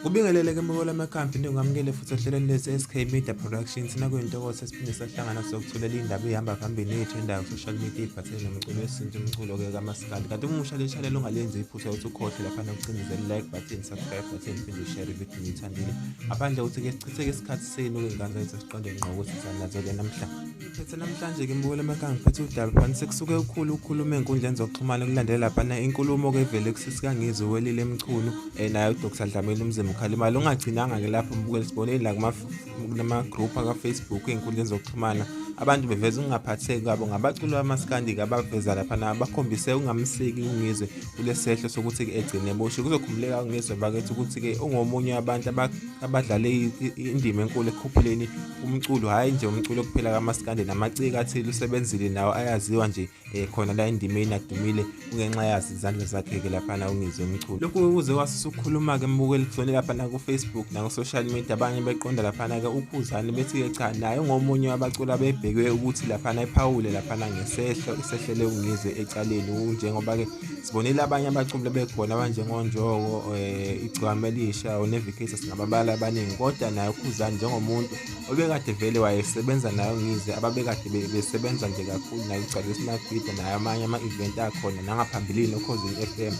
Ubingelele ke mbuko lamakhambi into ngamukele futhi ohlelweni lesi SK Media Productions nakuyintokozo esiphinde sahlangana sokuthulela indaba ihamba phambili yethu endawo social media ibhathele nomculo wesintu umculo ke kamaskandi kanti umusha le channel ungalenzi iphutha ukuthi ukhohle lapha nokucindezela like button subscribe button phinde ushare video nithandile ngaphandle ukuthi ke sichitheke isikhathi senu ke ngane zethu siqonde ngqo ukuthi sanazele namhlanje Thethe namhlanje ke mbukela emakanga ngiphethe udaba phani sekusuke ukhulu ukhuluma enkundleni zokuxhumana kulandela laphana inkulumo ke vele kusisika ngizwe welile emchunu eh naye uDr Dlamini umzimba ukhala imali ungagcinanga ke lapho mbukela sibonile la kuma kuma group aka Facebook enkundleni zokuxhumana abantu beveza ukungaphatheki kwabo ngabaculi bamaskandi abaveza laphana bakhombise ungamsiki ungizwe kulesehlo sokuthi ke egcine boshe kuzokhumbuleka ungizwe bakethu ukuthi ke ungomunye wabantu abadlale indima enkulu ekukhuphuleni umculo hhayi nje umculo kuphela kamaskande namaciko athile usebenzile nawo ayaziwa nje um khona la endimeni adumile kungenxa yazi izandla zakhe-ke laphana ungizwe umculo lokhu kuze wasusa ukukhuluma-ke mbukeli kuzone laphana kufacebook naku-social media abanye beqonda laphana-ke ukhuzane bethi-ke cha naye ungomunye wabaculi abebhekwe ukuthi laphana ephawule laphana ngesehlo isehlele ungizwe ecaleni njengoba-ke sibonile abanye abaculi bekhona abanjengonjoko um eh, igcwame elisha unevicatus nababala abaningi kodwa naye ukhuzani njengomuntu obekade vele wayesebenza nayo ngize ababekade besebenza nje kakhulu naye ugcwale isimagida naye amanye ama-event akhona nangaphambilini okhozini f m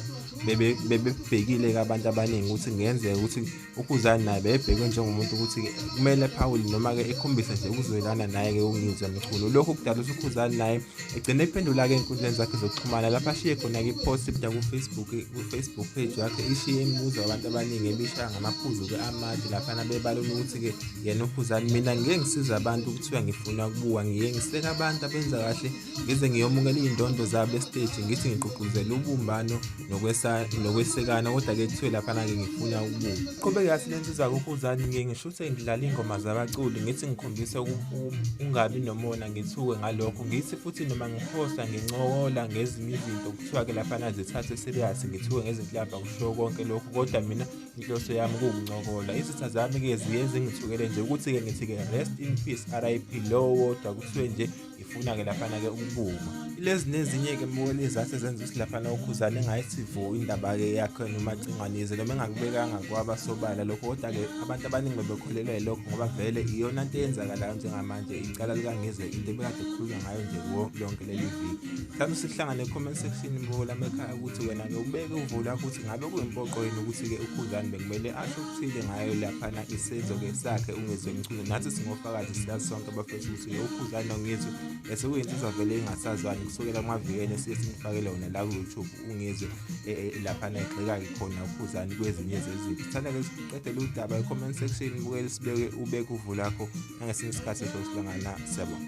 bebebhekile-ke abantu abaningi ukuthi kungenzeka ukuthi ukhuzani naye bebhekwe njengomuntu ukuthi kumele aphawule noma-ke ekhombisa nje ukuzwelana naye-ke ungizwa mkhulu lokhu kudala ukuthi ukhuzani naye egcine ephendula-ke ey'nkundleni zakhe zokuxhumana lapho ashiye khona-ke ipost ebda kufacebook kufacebook page yakhe ishiye imibuzo abantu abaningi ebishaya ngamaphuzu-ke amade laphana bebalona ukuthi-ke yena ukhuzani mina ngike ngisiza abantu kuthiwa ngifuna ukubuka ngiye ngiseka abantu abenza kahle ngize ngiyomukela iy'ndondo zabo esiteji ngithi ngigqugquzela ubumbano nokwesekana kodwa-ke kuthiwe laphana-ke ngifuna ukubuka qhubeke yathi le nsizwa kukhuzani ngiye ngisho ukuthi ngidlala iy'ngoma zabaculi ngithi ngikhombise ungabi nomona ngithuke ngalokho ngithi futhi noma ngiphosta ngincokola ngezinye izinto kuthiwa-ke laphana zithathe serious ngithuke ngezinhlamba kushiwo konke lokhu kodwa mina inhloso yami kuwukuncokola izitha zami-ke ziye zingithukele nje ukuthi-ke ngithi-ke rest in peace r i p lowo kodwa kuthiwe nje ifuna ke laphana ke ukubuma lezi nezinye ke mboni zathi zenza ukuthi laphana ukhuzane engayisivuki indaba ke yakhe noma cingwanise noma engakubekanga kwaba sobala lokho kodwa ke abantu abaningi bebekholelwa yilokho ngoba vele iyona nto eyenzakalayo njengamanje icala likangizwe into ebekade kukhulunywa ngayo nje kuwo lonke leli viki mhlawumbe sihlangane comment section mbuko lami ekhaya ukuthi wena ke ubeke uvo lakho ukuthi ngabe kuyimpoqo yini ukuthi ke ukhuzane bekumele asho okuthile ngayo laphana isenzo ke sakhe ungezwe mculo nathi singofakazi siyazi sonke abafethu ukuthi lo ukhuzane ungizwe bese kuyinsizwa vele engasazwani kusukela kumavikeni esiye simfakele wona la ku-youtube ungizwe e, e, e, laphana egxeka-ke khona ukhuzane kwezinye zezinto sithanda-ke siqedele udaba e-comment section bukele sibeke ubeke uvu lakho nangesinye isikhathi sosilangana siyabona